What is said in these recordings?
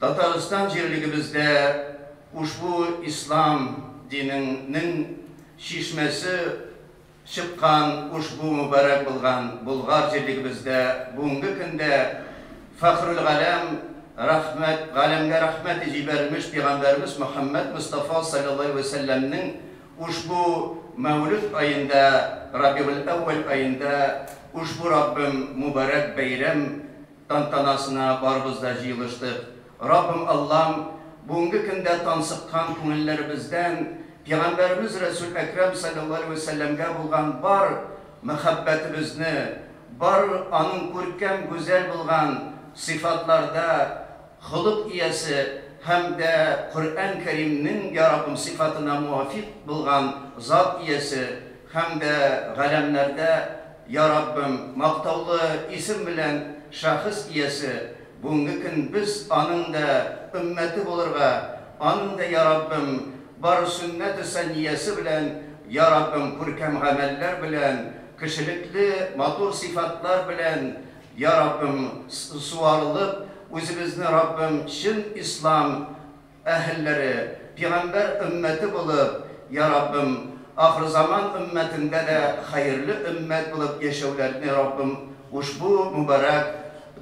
Татарстан җирлегебездә ушбу ислам динең нең чишмәсе чыккан ушбу мөбарәк булган Болгар җирлегебездә бүгенге көндә Фәхрүлгаләм рәхмәт галәмгә рәхмәте җибәрелмеш пигамбәребез Мөхәммәд Мостафа салләллаһи вә сәлләм нең ушбу мәүлүд аенда Рабигуль әүвәл аенда ушбу Раббым мөбарәк бәйрәм тантанасына барыбыз да җыелыштык. Раббым Аллам, бүгенге көндә тансыккан күңелләребездән Пигамбәребез Рәсүл Әкрам салләллаһу галәйһи вә сәлләмгә булган бар мәхәббәтебезне, бар аның күркәм, гүзәл булган сыйфатларда холык иясе һәм дә Коръән Кәримнең, йа Раббым, сыйфатына муафикъ булган зат иясе һәм дә галәмнәрдә Я Раббым, мактаулы исем белән шәхес иясе, бүгенге көн без аның да өммәте булырга, аның да, Я Раббым, бар сөннәте сәнниясе белән, Я Раббым, күркәм гамәлләр белән, кешелекле матур сыйфатлар белән, Я Раббым, суарылып, үзебезне, Раббым, чын ислам, әһелләре, пигамбәр өммәте булып, Йа Раббым, ахырзаман өммәтендә дә хәерле өммәт булып яшәүләрне, Раббым, ушбу мөбарәк,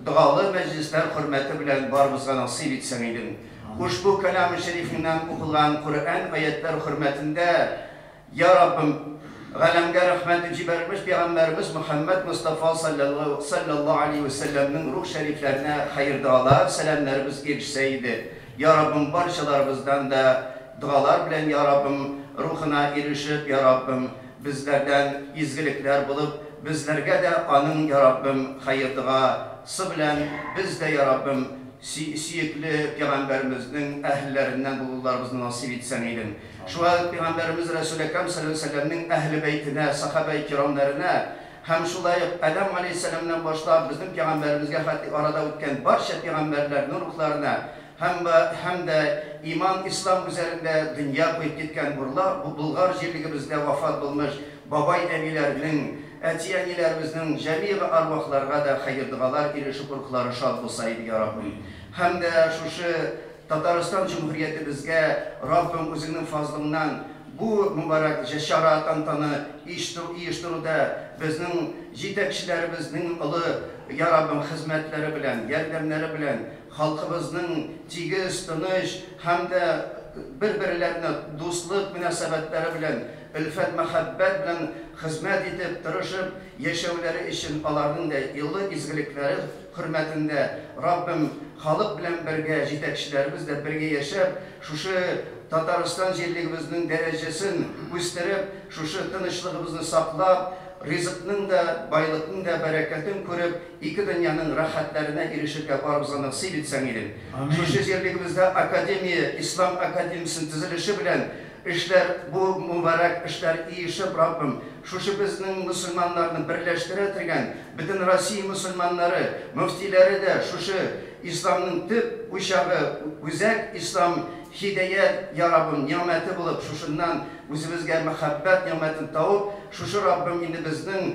догалы мәҗлесләр хөрмәте белән барыбызга насыйп итсәң идең. Ушбу кәлам-ы шәрифеңнән укылган Коръән аятьләр хөрмәтендә, Йа Раббым, галәмгә рәхмәтен җибәрермеш пигамбәребез Мөхәммәд Мостафа салләллаһу галәйһи вә сәлләмнең рух шәрифләренә хәер-догалар, сәламнәребез ирешсә иде. Йа Раббым, барчаларыбыздан да догалар белән, Йа Раббым, рухына ирешеп, Йа Раббым, безләрдән изгелекләр булып, безләргә дә аның, Йа Раббым, хәер-дога сы белән, без дә, Йа Раббым, сөекле пигамбәремезнең әһелләреннән булуларыбызны насыйп итсәң идең. Шулай ук Пигамбәребез Рәсүл Әкрәм салләллаһу галәйһи ва сәлләмнең Әһле бәйтенә, сахабәи кирамнәренә һәм шулай ук Адәм галәйһи сәлләмнән башлап безнең Пигамбәребезгә хәтле арада үткән барча пигамбәрләрнең рухларына һәм ба һәм дә иман, ислам үзәрендә дөнья куеп киткән бурла бу Болгар җирлегебездә вафат булмыш бабай-әбиләрнең, әти-әниләребезнең җәмигъ арвахларга да хәер-догалар ирешеп рухлары шат булса иде, я Раббым! Һәм дә шушы. Татарстан Җөмһүриятебезгә Раббың Үзеңнең фазлыңнан бу мөбарәк җә-чара, тантана иштү иештүрүдә безнең җитәкчеләребезнең олы, я Раббым, хезмәтләре белән, ярдәмнәре белән халкыбызның тигез, тыныч һәм дә бер-берләренә дуслык мөнәсәбәтләре белән, өлфәт-мәхәббәт белән хезмәт итеп, тырышып яшәүләре өчен аларның дә олы изгелекләре, хөрмәтендә, Раббым, халык белән бергә, җитәкчеләребез дә бергә яшәп, шушы Татарстан җирлегебезнең дәрәҗәсен үстереп, шушы тынычлыгыбызны саклап, ризыкның да, байлыкның да бәрәкәтен күреп, ике дөньяның рәхәтләренә ирешергә барыбызга насыйп итсәң идең. Шушы җирлегебездә академия, Ислам академиясенең төзелеше белән Эшләр, бу мубарәк эшләр иешеп, Раббым, шушы безнең мөселманнарны берләштерә тергән бөтен Россия мөселманнары, мөфтиләре дә шушы Исламның төп учагы, үзәк Ислам һидәят, я Раббым, нигъмәте булып, шушыннан үзебезгә мәхәббәт нигъмәтен тавып, шушы, Раббым, инде безнең